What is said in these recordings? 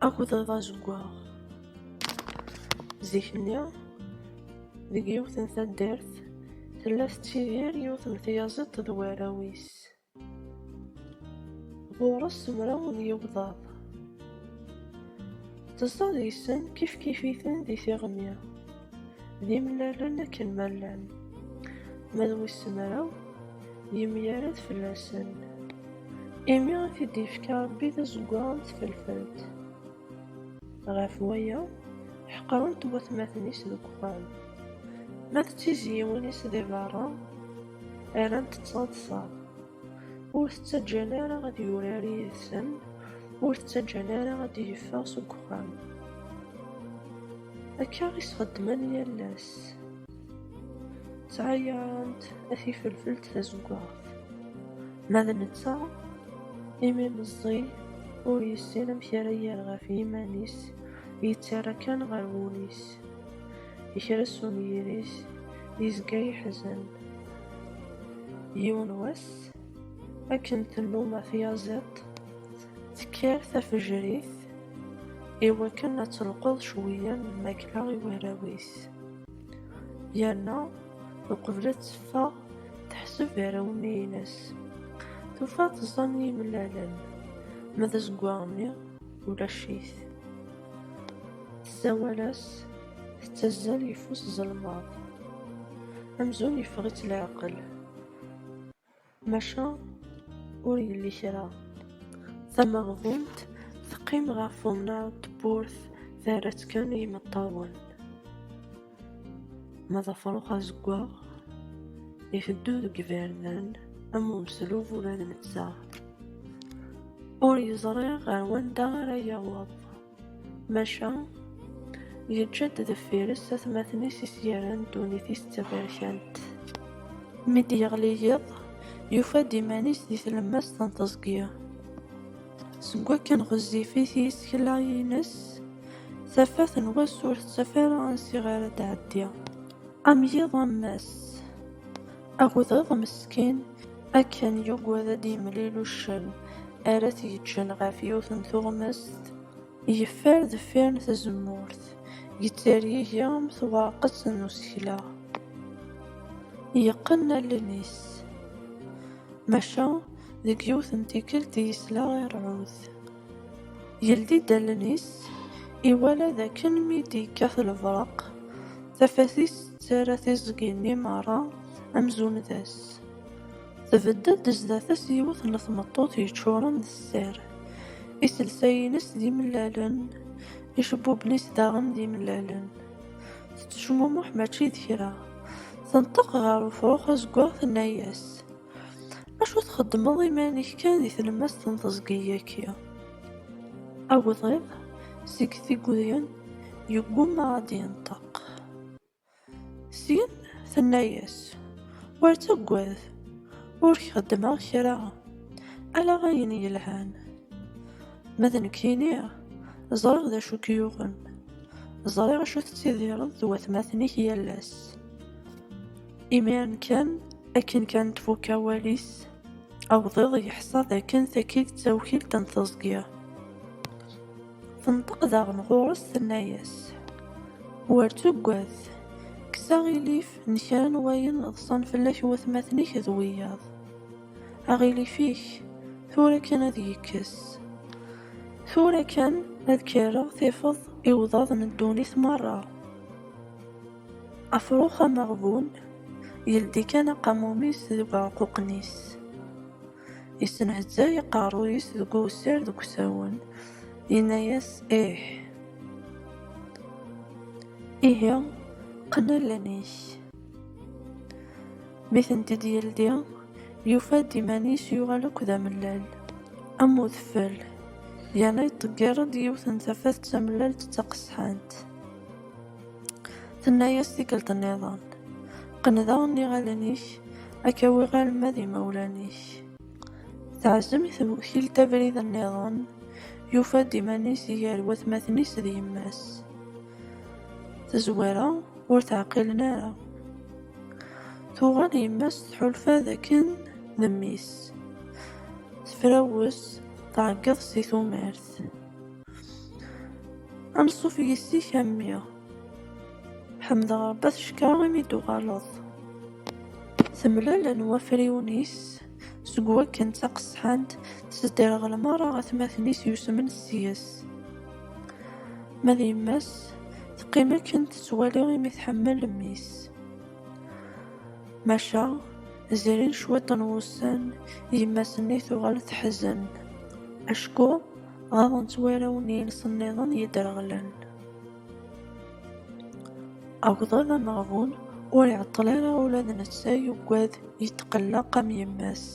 Akked d azeggaɣ. Zik-nni, deg yiwet n taddart, tella tettidir yiwet n tyaziḍt d warraw-is. Ɣur-s mraw n yigḍaḍ. Tezdeɣ deg-sen kifkif-iten di tiɣmi. d imlalen akken ma llan, ma d wis mraw yemyared fell-asen, imi i t-id-yefka Rebbi d azeggaɣ n tfelfelt. Ɣef waya, ḥeqren-t watmaten-is deg uxxam. Ma d tizyiwin-is di berra, rrant-tt taḍsa. Ur t-ttaǧǧan ara ad yurar yid-sen, ur t-ttaǧǧan ara ad d-yeffeɣ seg uxxam. Akka i s-xeddmen yal ass. Ttɛayarent ad t-ifelfelt tazeggaɣt. Ma d netta, imi meẓẓi, ur yessin amek ara yerr ɣef yiman-is, yettarra kan ɣer wul-is. yekra sum yiri-s yezga yeḥzen yiwen wass akken tennuma tyaziḍt tekker tafejrit i wakken ad telqeḍ cwiya n lmakla i warraw-is yerna uqbel ad teffeɣ teḥseb arraw-nni-ines tufa teẓẓan yimellalen ma d azeggaɣ-nni ulac-it Tessawal-as, tettazzal yeffus zelmaḍ, amzun yeffeɣ-itt leɛqel, maca ur yelli kra. Tameɣbunt teqqim ɣef umnar n tewwurt terra-tt kan i yimeṭṭawen. Ma d afṛux azeggaɣ, iteddu deg iberdan am umeslub ula d netta ur yeẓri ɣer wanda ara yaweḍ, maca yeǧǧa-d deffir-s atmaten-is i s-yerran ddunit-is d taberkant. Mi d-yeɣli yiḍ, yufa-d iman-is di tlemmast n teẓgi. Seg wakken ɣezzifit yisekla-ines, tafat n wass ur tettaf ara ansi ara d-tɛeddi. Am yiḍ am wass, agḍiḍ meskin akken yugad ad d-yemlil uccen ara t-yeǧǧen ɣef yiwet n tuɣmest. Yeffer deffir n tzemmurt, yettergigi am twerqet n usekla. Yeqqen allen-is. Maca, deg yiwet n tikkelt yesla i rrɛud. Yeldi-d allen-is, iwala d akken mi d-yekkat lebreq, tafat-is tettarra tiẓgi-nni merra amzun d ass. Tbedd-d zdat-s yiwet n tmeṭṭut yeččuren d sser. Iselsa-ines d imellalen, icebbuben-is daɣen d imellalen. Tettecmumuḥ mačči d kra. Tenṭeq ɣer ufrux azeggaɣ tenna-yas, Acu txeddmeḍ iman-ik kan di tlemmast n teẓgi-yaki? Awḍiḍ seg tigudin yeggumma ad d-yenṭeq. Syin tenna-yas, Ur ttaggad, ur k-xeddmeɣ kra, ala ayen yelhan. Ma d nekkini, ẓriɣ d acu k-yuɣen, ẓriɣ acu tettidireḍ d watmaten-ik yal ass. Imiren kan, akken kan tfuk awal-is, awḍiḍ yeḥsa dakken tagi d tawkilt n teẓgi. Tenṭeq daɣen ɣur-s tenna-yas, Wer tuggad, kkes aɣilif n kra n wayen ḍsan fell-ak watmaten-ik d wiyaḍ. Aɣilif-ik tura kan ad yekkes. Tura kan ad k-rreɣ tifeḍ iwḍaḍ n ddunit merra. Afrux ameɣbun yeldi kan aqamum-is deg uɛeqquqen-is. Yessenhettay aqerruy-is deg uwessar deg usawen. Yenna-yas, Ih. Ihi, qqen allen-ik. Mi tent-id-yeldi, yufa-d iman-is yuɣal akk d amellal, am udfel, yerna yeṭṭeggir-d yiwet n tafat d tamellalt d taqesḥant. Tenna-yas tikkelt nniḍen, qqen daɣen iɣallen-ik, ad k-awiɣ alma d imawlan-ik. Teɛzem i tewkilt abrid nniḍen, yufa-d iman-is gar watmaten-is d yemma-s. Tezwara ur teɛqilen ara. Tuɣal yemma-s tḥulfa d akken d mmi-s. Tefrawes, tɛeggeḍ si tumert. Anṣuf yes-k a mmi. Ḥemdeɣ Ṛebbi at ccekra imi d-tuɣaleḍ. Temlalen wafriwen-is seg wakken d taqesḥant tesderɣel merra atmaten-is yusmen seg-s. Ma d yemma-s teqqim akken tettwali imi tḥemmel mmi-s. Maca zrin cwiṭ n wussan yemma-s-nni tuɣal teḥzen acku Ɣaḍent warraw-nni-ines nniḍen yedreɣlen. Agḍiḍ ameɣbun ur iɛeṭṭel ara ula d netta yugad yetqelleq am yemma-s.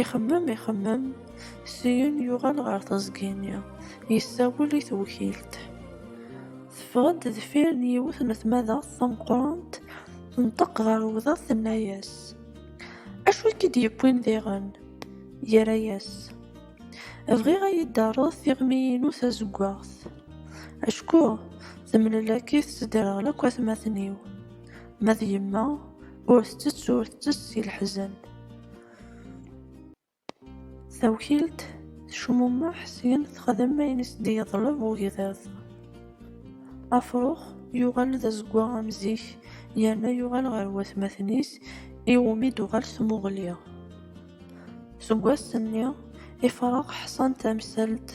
Ixemmem ixemmem, syin yuɣal ɣer teẓgi-nni, yessawel i tewkilt. Teffeɣ-d deffir n yiwet n tmadaɣt tameqqrant, tenṭeq ɣer wdaɣ tenna-yas, Acu i k-id-yewwin diɣen? Yerra-yas. Bɣiɣ ad iyi-d-taruḍ tiɣmi-inu tazewwaɣt. Acku temlelak-it tedderɣel akk atmaten-iw. Ma d yemma, ur tettett ur tettess si leḥzen. Tawkilt tecmumeḥ syin texdem ayen i s-d-yeḍleb ugḍiḍ. Afrux yuɣal d azeggaɣ am zik yerna yuɣal ɣer watmaten-is iwumi d-tuɣal tmuɣli. Seg wass-nni, ifrax ḥṣan tamsalt,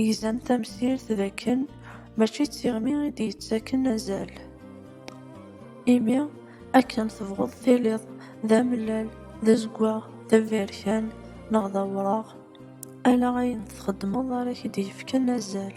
gzan tamsirt d akken mačči d tiɣmi i d-yettaken azal. Imi, akken tebɣeḍ tiliḍ d amellal, d azeggaɣ, d aberkan neɣ d awraɣ, ala ayen txeddmeḍ ara k-id-yefken azal.